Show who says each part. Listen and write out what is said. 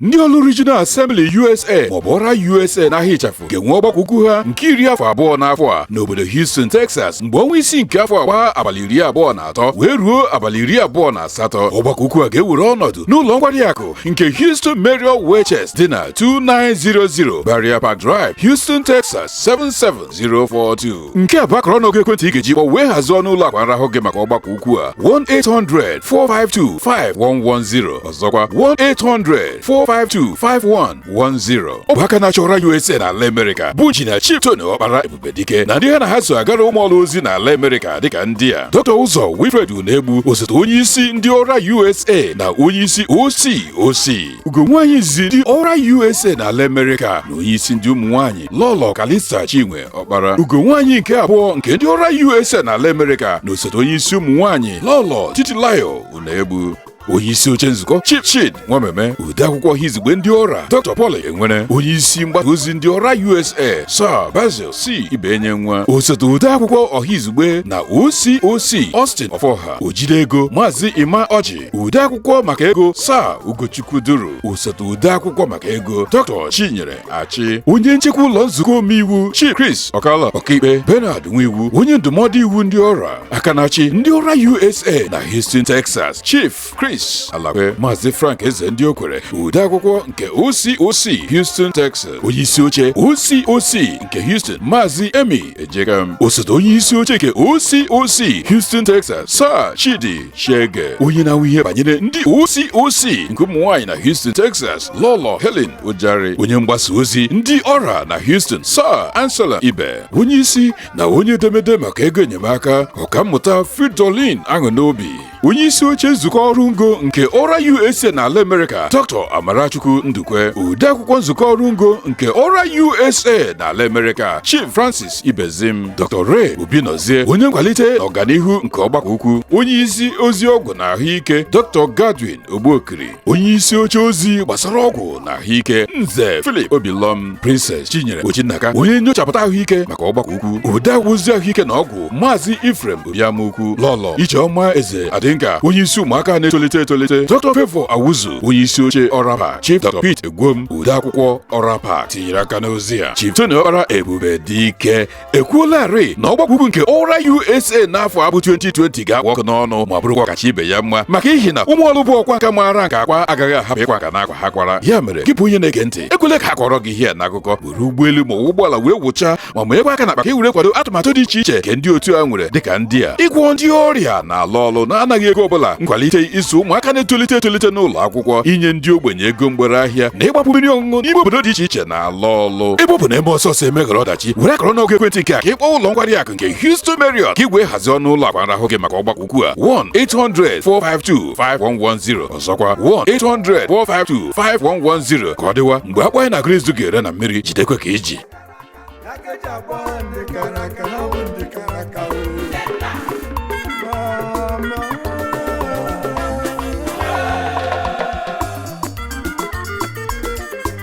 Speaker 1: ndị ọlụ Regional Assembly USA maọbụ ọra USA n'aha ịchafụ ga-enwe ọgbakọ ukwu ha nke iri afọ abụọ n'afọ a n'obodo Houston Texas mgbe ọnwa isii nke afọ a gbaa abalị iri abụọ na atọ wee ruo abalị iri abụọ na asatọ ọgbakọ ukwu a ga-ewere ọnọdụ n'ụlọ nkwari akụ nke Houston Marriott Westchase dị na 2900 Briarpark Drive Houston Texas 77042 nke a bụ akara ọnụọgụ ekwentị ị ga-eji kpọ wee hazie ọnụ ụlọ akwa nrahụ gị maka ọgbakọ ukwu a 1-800-452-5110 ọzọkwa 1-800-452-5110 ọ bụ aka na-achị ọra USA n'ala Amerịka bụ injinia Chief Tony Ọkpara Ebube Dike na ndị ha na ha so agara ụmụ ọlụ ozi n'ala Amerịka dịka ndị a Dr. Ụzọ Wilfred Unegbu osote onye isi ndị ọra USA na onye isi OCOC ugo nwaanyị izizi ndị ọra USA n'ala Amerịka na onye isi ndị ụmụ nwaanyị Lọlọ Kalista Chinwe Ọkpara ugo nwaanyị nke abụọ nke ndị ọra USA n'ala Amerịka na osote onye isi ụmụ nwaanyị Lọlọ Titilayo Unegbu onye isi oche nzukọ Chief Chid Nwameme ode akwụkwọ ọhaizugbe ndị ọra Dr. Paul Enwere onye isi mgbasa ozi ndị ọra USA Sir Basil C Ibenyenwa osote ode akwụkwọ ọhaizugbe na OCOC Austin Ọfọha ojide ego Maazị Ima Ọjị ode akwụkwọ maka ego Sir Ugochukwu Duru osote ode akwụkwọ maka ego Dr. Chinyere Achị onye nchekwa ụlọ nzukọ omeiwu Chief Chris Okala ọkaikpe Bernard Nwiwu onye ndụmọdụ iwu ndị ọra aka na-achị ndị ọra USA na Houston Texas Chief Chris Alakwe Maazị Frank Ezendiokwere odeakwụkwọ nke OCOC Houston Texas onye isi oche OCOC nke Houston Maazị Emmy Ejekam osote onye isi oche nke OCOC Houston Texas Sir Chidi Shege onye na-ahụ ihe banyere ndị OCOC nke ụmụ nwaanyị na Houston Texas Lọlọ Helen Ujari onye mgbasa ozi ndị ọra na Houston Sir Anselm Ibe onye isi na onye edemede maka ego enyemaka ọkammụta Fridolin Aṅụnobi onye isi oche nzukọ ọrụ ngo nke ọra USA n'ala Amerịka Dr. Amarachukwu Ndukwe odeakwụkwọ nzukọ ọrụ ngo nke ọra USA n'ala Amerịka Chief Francis Ibezim Dr. Ray Obinozie onye nkwalite na ọganihu nke ọgbakọ ukwu onye isi ozi ọgwụ na ahụike Dr. Godwin Ogbuokiri onye isi oche ozi gbasara ọgwụ na ahụike nze Philip Obilom Princess Chinyere Ojinnaka onye nyochapụta ahụike maka ọgbakọ ukwu odeakwụkwọ ozi ahụike na ọgwụ maazị Ephraim Obiamukwu Lọlọ Ijeọma Eze Adinka onye isi ụmụaka na-etolite etolite Dr. Favour Awuzu onye isi oche Orapac Chief Dr. Pete Egwom odeakwụkwọ Orapac tinyere aka n'ozi a Chief Tony Okpara Ebube Dike ekwuolarị na ọgbakọ ukwu nke ọra usa n'afọ a bụ 2020 ga-akpụ ọkụ n'ọnụ ma bụrụkwa ọkacha ibe ya mma maka ihi na ụmụ ọlụ bụ ọkwa nka maara nke akwa agaghị ahapụ ịkwa nka n'akwa ha kwara ya mere gị bụ onye na-ege ntị ekwele ka a kọọrọ gị ihe n'akụkọ were ụgbọelu ma ụgbọala wee wụchaa ma maakwa aka n'akpa ka e were kwado atụmatụ dị iche iche nke ndị otu a nwere dịka ndị a ịgwọ ndị ọrịa n'ala ọlụ n'anaghị ego ọbụla nkwalite ịzụ ụmụaka na-etolite etolite n'ụlọ akwụkwọ inye ndị ogbenye ego mgbere ahịa na ịgbapu mmiri ọṅụṅụ n'ime obodo dị iche iche na ala ọlụ ebe ọ bụ na e mee ọsọ ọsọ e meghara ọdachi were akara ọnụọgụ ekwentị nke a ka ị kpọọ ụlọ nkwari akụ nke Houston Marriott ka i wee hazie ọnụ ụlọ akwa nrahụ gị maka ọgbakọ ukwu a 1-800-452-5110 ọzọkwa 1-800-452-5110 ka ọ dịwa mgbe akpọ anyị na Grace ga-ere na mmiri jidekwa ka i ji